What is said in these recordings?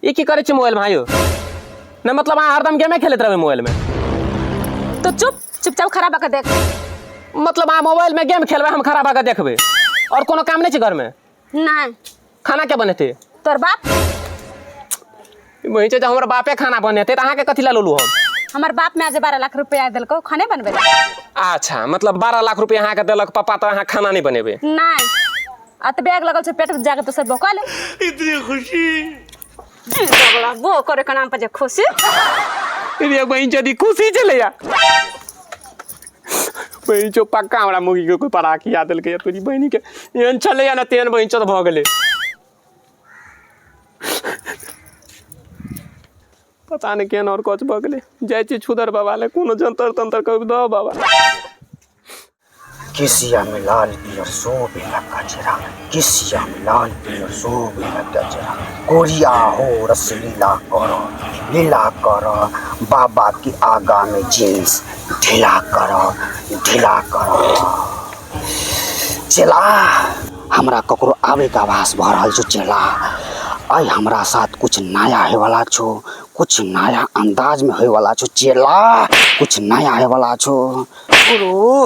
ई की करै छी मोबाइल भाइयो ना मतलब अहाँ हरदम गेमे खेलैत रहबै मोबाइल में तो चुप चुपचाप खड़ा बक देख मतलब अहाँ मोबाइल में गेम खेलबै हम खड़ा भऽ कऽ देखबै और कोनो काम नहि छै घर में नहि खाना के बनेतै तोर बाप वही छै हमर बापे खाना बनेतै तऽ अहाँके कथी लए लोलू हम हमर बाप माय जे बारह लाख रुपैआ देलकौ खाने बनबै लए अच्छा मतलब बारह लाख रुपैआ अहाँके देलक पापा तऽ अहाँ खाना नहि बनेबै नहि अतबे आग लगल छै पेट जाके दोसर बोका ले इतनी खुशी बो करे के नाम पर जे खुशी रे बहिन जदी खुशी चलैया बहिन चो पक्का हमरा मुगी के कोई पड़ा किया दिल के तोरी बहनी के एहन छले या ना तेन बहिन चो भ गेले पता नहीं केन और कच भ गेले जाय छी छुदर बाबा ले कोनो जंतर तंतर कर द बाबा केसिया में लाल पियर सो बेला कचरा कि श्याम लाल पिअ सोग न गजरा कोरिया हो रस लीला कर लीला कर बाबा के आगा में जींस ढीला कर ढीला कर चला हमरा ककरो आवे के आवास भऽ रहल छौ चेला आइ हमरा साथ कुछ नया होयवला छौ कुछ नया अन्दाज में होयवला छौ चेला कुछ नया होयवला छौ गुरु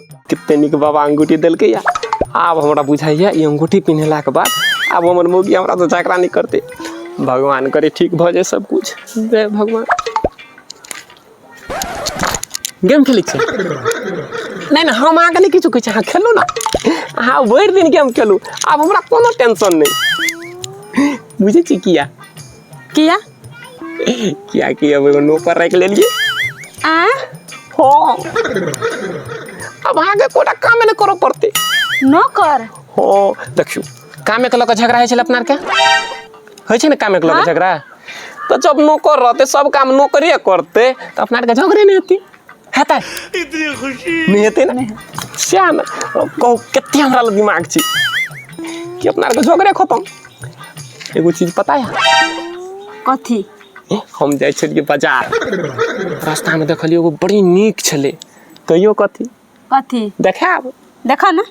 कते नीक बाबा अंगूठी देलकै या आब हमरा बुझाइया ई अंगूठी पिन्हेलाक बाद आब हमर मौगी हमरा से झगड़ा नहि करते भगवान करे ठीक भऽ जाय सब कुछ जय भगवान गेम खेलै छी नहि नहि हम अहाँके नहि किछु कहै छी अहाँ खेलू ने अहाँ भरि दिन गेम खेलू आब हमरा कोनो टेंशन नहि बुझै छी किया किया किया कि अब एगो नौकर राखि लेलियै आ हँ अब अहाँके एकोटा कामे नहि करऽ पड़तै नौकर हँ देखियौ कामेके लऽ कऽ झगड़ा होइ छलै अपना आरके होइ छै ने कामेके लऽ कऽ झगड़ा तऽ जब नौकर रहतै सब काम नौकरे करतै तऽ अपना आरके झगड़े नहि हेतै हेतै इतनी खुशी नहि हेतै ने सएह ने कहू कतेक हमरा लग दिमाग छै कि अपना आरके झगड़े खतम एगो चीज पता यऽ कथी हम जाइ छलियै बाजार रास्तामे देखलियै एगो बड़ी नीक छलै कहियो कथी कथी देखायब देखऽ ने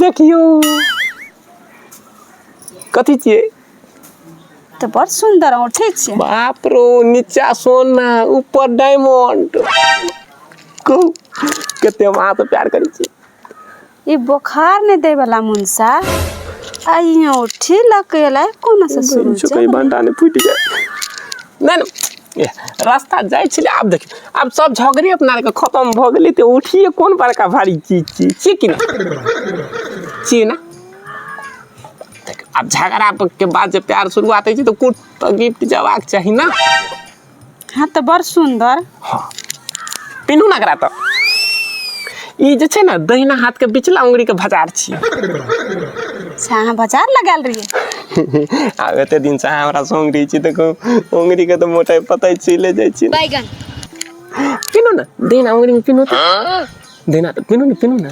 देखियौ कथी छियै तऽ बड़ सुन्दर औँठी छै बाप रो नीचा सोना ऊपर डायमंड कहू कते हम अहाँसँ प्यार करै छी ई बोखार नहि दै वाला मुनसा अइयो उठी लकेला कोना से शुरू छै कहीं भंडा ने फूटि जाय नहि नहि एह, रास्ता जाइ छलै आब देखियौ आब सब झगड़े अपना आरके खतम भऽ गेलै तऽ उठिए कोन बड़का भारी चीज छी छी कि नहि छी ना आ झगड़ा प- के बाद जे प्यार शुरुआत होइ छै तऽ कुछ तऽ गिफ्ट जबाक चाही ना हाँ तो बड़ सुंदर पिन्हू ना एकरा तऽ ई जे छै ने दहिना हाथ के बिचला उंगली के भजार छी अच्छा अहाँ बाजार लगाल रहिए आ एते दिन से अहाँ हमरा संग रहै छी देखो उंगली के तऽ मोटाइ पता छी ले जाइ छी बैगन पिन्हू ना दहिना उंगली में पिन्हू तऽ दहिना तऽ पिन्हू ना पिन्हू ना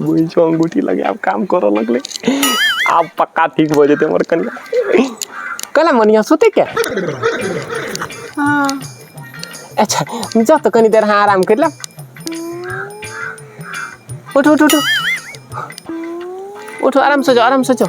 बोल छो अंगूठी लगे आब काम करऽ लगले आब पक्का ठीक भऽ जेतै हमर कनिया कला मनिया सुते के हाँ अच्छा जा तऽ कनी देर अहाँ आराम कर ले उठो उठो उठो उठो आराम से जाओ आराम से जाओ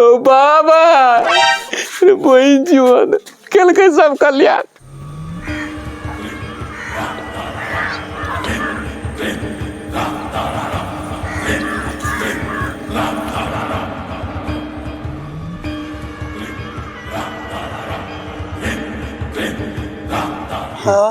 ओ बाबा रे बहिन जीवन केलकै सब कल्याण हाँ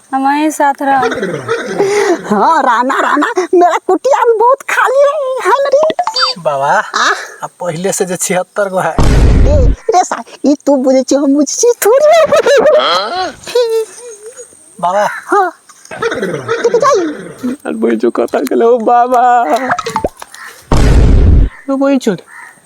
हम अहीं साथ रहब हाँ राना राना मेरा कुटिया अभी बहुत खाली है है ना रे बाबा आ अब पहले से जे छिहत्तर गो है ए रे सा ई तू बुझे छी हम बुझे छी थोड़ी ना बाबा हाँ तू बुझाई अरे बोल जो कता गेलो बाबा तो बोल चोद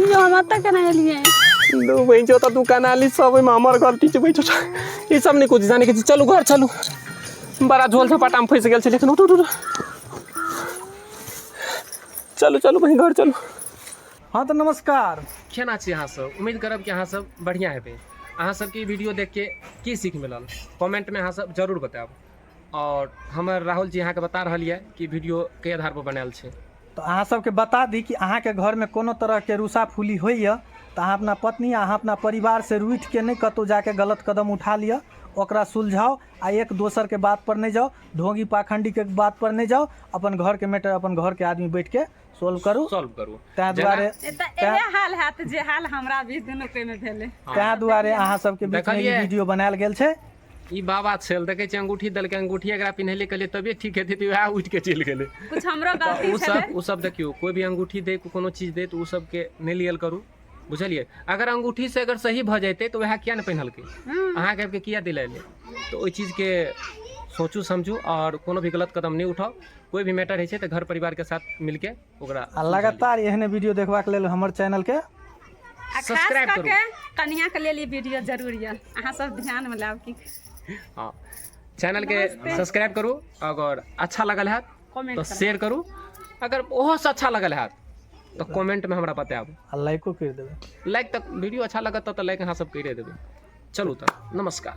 यौ हम एतऽ केना एलियै दू बहिन छै ओतऽ तू केना एली सब ओहिमे हमर गलती छै बहिन चचा ई सब नहि कुछ जाने के छै चलू घर चलू बड़ा झोल झपाटामे फँसि गेल छै लेकिन उठू उठू चलू चलू बहिन घर चलू हँ तऽ नमस्कार केना छी अहाँ सब उम्मीद करब कि अहाँ सब बढ़िया हेबै अहाँ सबके ई वीडियो देख के की सीख मिलल कमेंट में अहाँ सब जरूर बतायब आओर हमर राहुल जी अहाँके बता रहल यऽ कि वीडियो के आधार पर बनायल छै तऽ अहाँ सबके बता दी कि अहाँके घरमे कोनो तरहके रूसा फूली होइए तऽ अहाँ अपना पत्नी आ अहाँ अपना परिवारसँ रूठि कऽ नहि कतहु जा कऽ गलत कदम उठा लिअ ओकरा सुलझाउ आ एक दोसरके बातपर नहि जाउ ढोंगी पाखण्डीके बातपर नहि जाउ अपन घरके मैटर अपन घरके आदमी बैठि कऽ सोल्व करू सॉल्व करू ताहि जेना दुआरे एतऽ ताहि- इएह हाल हैत जे हाल हमरा भी दुनू कोई मे भेलै हँ, ताहि दुआरे अहाँ सबके बीच में ई देखलियै? वीडियो बनायल गेल छै ई बाबा छल देखै छियै अंगूठी देलकै अंगूठी एकरा पिन्हले कहलियै तबे ठीक हेतै तऽ वएह उठि के चलि गेलै कुछ हमरो तऽ गलती उ छलै सब उ सब देखियौ कोई भी अंगूठी दे कोनो चीज दे तऽ उ सब के नहि लियल करू बुझलियै अगर अंगूठी से अगर सही भऽ जैतै तऽ वएह किया नहि पहिनलकै अहाँके आबिके किया दिलेलै तऽ ओहि चीजके सोचू समझू आओर कोनो भी गलत कदम नहि उठाउ कोइ भी मैटर होइ छै तऽ घर परिवारके साथ मिलके ओकरा आ लगातार एहने वीडियो देखबाक लेल हमर चैनलके आ खास Subscribe कऽ करू। के कनिया के लेल ई वीडियो जरूर यऽ अहाँ सब ध्यान में लाउ की हँ चैनलके सब्सक्राइब करू अगर अच्छा लगल हैत कमेंट तऽ शेयर करू अगर ओहोसँ अच्छा लगल हैत तऽ कमेंटमे हमरा बतायब आ लाइको करि देबै लाइक तऽ वीडियो अच्छा लगत तऽ लाइक अहाँ सब करिए देबै चलू तऽ नमस्कार